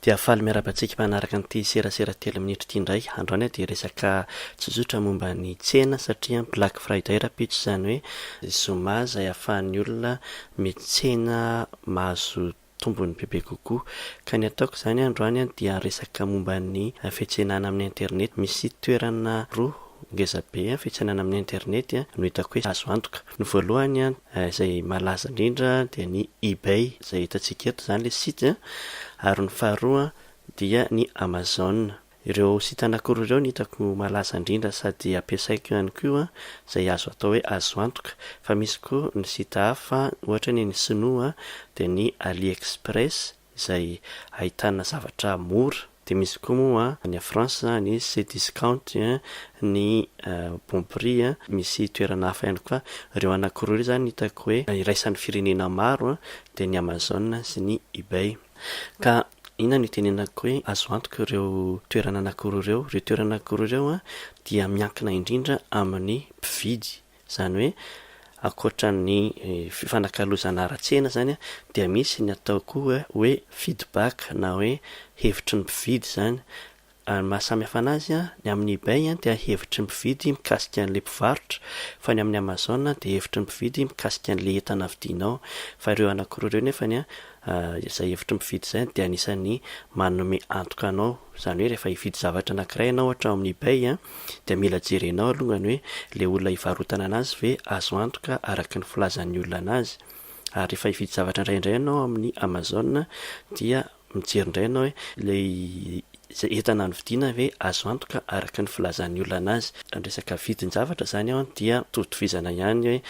Dia faly miarahaba antsika manaraka an'ity serasera telo minitra ity indray. Androany dia resaka tsotsotra momba ny tsena satria Black Friday rahampitso izany hoe zoma izay ahafahan'ny olona mitsena mahazo tombony bebe kokoa. Ka ny ataoko izany androany dia resaka momba ny fiantsenana amin'ny internet. Misy toerana roa ngezabe fiantsenana amin'ny internet no hitako hoe azo antoka. Ny voalohany Izay malaza indrindra dia ny Ebay izay hitantsika eto izany ilay site a, ary ny faharoa dia ny Amazon. Ireo site anankiroa ireo no hitako malaza indrindra sady ampiasaiko ihany koa izay azo atao hoe azo antoka, fa misy koa ny site hafa ohatra ny an'ny sinoa dia ny Ali Express, izay ahitana zavatra mora, dia misy koa moa any France ny Cdiscount, ny Bon Prix, misy toerana hafa ihany koa, ireo anankiroa ireo izany hitako hoe iraisan'ny firenena maro dia ny Amazon sy ny Ebay, ka inona no itenenako hoe azo antoka ireo toerana anankiroa ireo, ireo toerana anankiroa ireo dia miankina indrindra amin'ny mpividy Izany hoe ankoatra ny fifanakalozana ara-tsena izany dia misy ny atao koa hoe feedback na hoe hevitry ny mpividy izany. Ny maha samy hafa anazy, ny amin'ny ebay dia hevitry ny mpividy mikasika an'ilay mpivarotra fa ny amin'ny amazon dia hevitry ny mpividy mikasika an'ilay entana vidinao fa ireo anakiroa ireo nefany Izay hevitry ny mpividy izay dia anisan'ny manome antoka anao. Izany hoe rehefa hividy zavatra anankiray ianao ohatra ao amin'ny ebay dia mila jerenao alongany hoe ilay olona hivarotana an'azy ve azo antoka araka ny filazan'ny olona an'azy. Ary rehefa hividy zavatra indray indray ianao ao amin'ny amazon dia mijery indray ianao hoe ilay Izay entana novidiana ve azo antoka araka ny filazan'ny olona anazy? Raha ny resaka vidin-javatra izany dia mitovy tovizana ihany hoe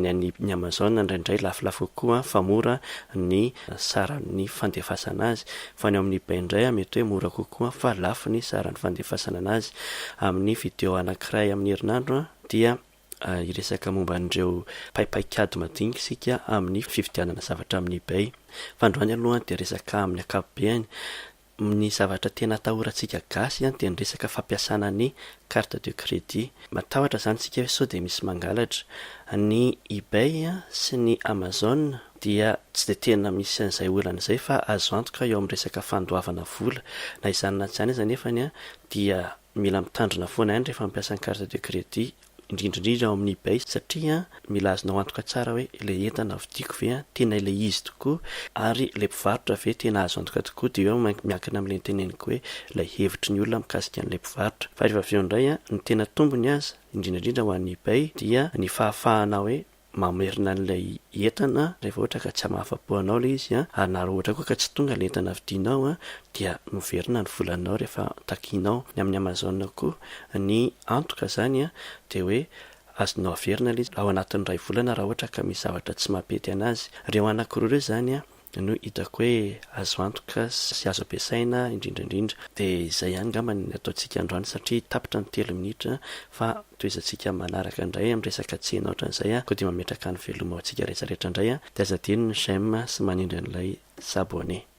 ny an'ny ny Amazon indraindray lafolafo kokoa fa mora ny saran'ny fandefasana azy fa ny ao amin'ny ebay indray mety hoe mora kokoa fa lafo ny saran'ny fandefasana anazy. Amin'ny video anankiray amin'ny herinandro dia hiresaka momba an'ireo paipaikady madinika isika amin'ny fividianana zavatra amin'ny ebay. Fa androany aloha dia resaka amin'ny ankapobeny. Ny zavatra tena atahorantsika gasy an dia ny resaka fampiasana ny carte de credit. Matahotra zany tsika hoe sao dia misy mangalatra. Ny ebay sy ny amazon dia tsy dia tena misy an'izay olana izay fa azo antoka eo amin'ny resaka fandoavana vola. Na izany na tsy izany aza nefany an dia mila mitandrina foana ihany rehefa mampiasa ny carte de credit. indrindra indrindra ao amin'ny ebay satria mila azonao antoka tsara hoe ilay entana vidiako ve tena ilay izy tokoa ary ilay mpivarotra ve tena azo antoka tokoa dia eo miankina amin'ilay noteneniko hoe ilay hevitry ny olona mikasika an'ilay mpivarotra fa rehefa avy eo indray ny tena tombony aza indrindra indrindra ho an'ny ebay dia ny fahafahana hoe mamerina an'ilay entana rehefa ohatra ka tsy mahafa-po anao ilay izy an, ary na raha ohatra koa ka tsy tonga ilay entana vidinao an, dia noverina ny volanao rehefa takianao. Ny amin'ny Amazon koa, ny antoka izany an, dia hoe azonao averina ilay izy ao anatin'ny iray volana raha ohatra ka misy zavatra tsy mampety an'azy. Ireo anankiroa ireo izany an, no hitako hoe azo antoka sy azo ampiasaina indrindra indrindra dia izay ihany angamba ny ataontsika androany satria tapitra ny telo minitra fa tohizantsika manaraka indray amin'ny resaka tsy heno ohatran'izay koa dia mametraka ny veloma ho antsika rehetra rehetra indray dia aza adino ny j'aime sy manindry an'ilay s'abonner.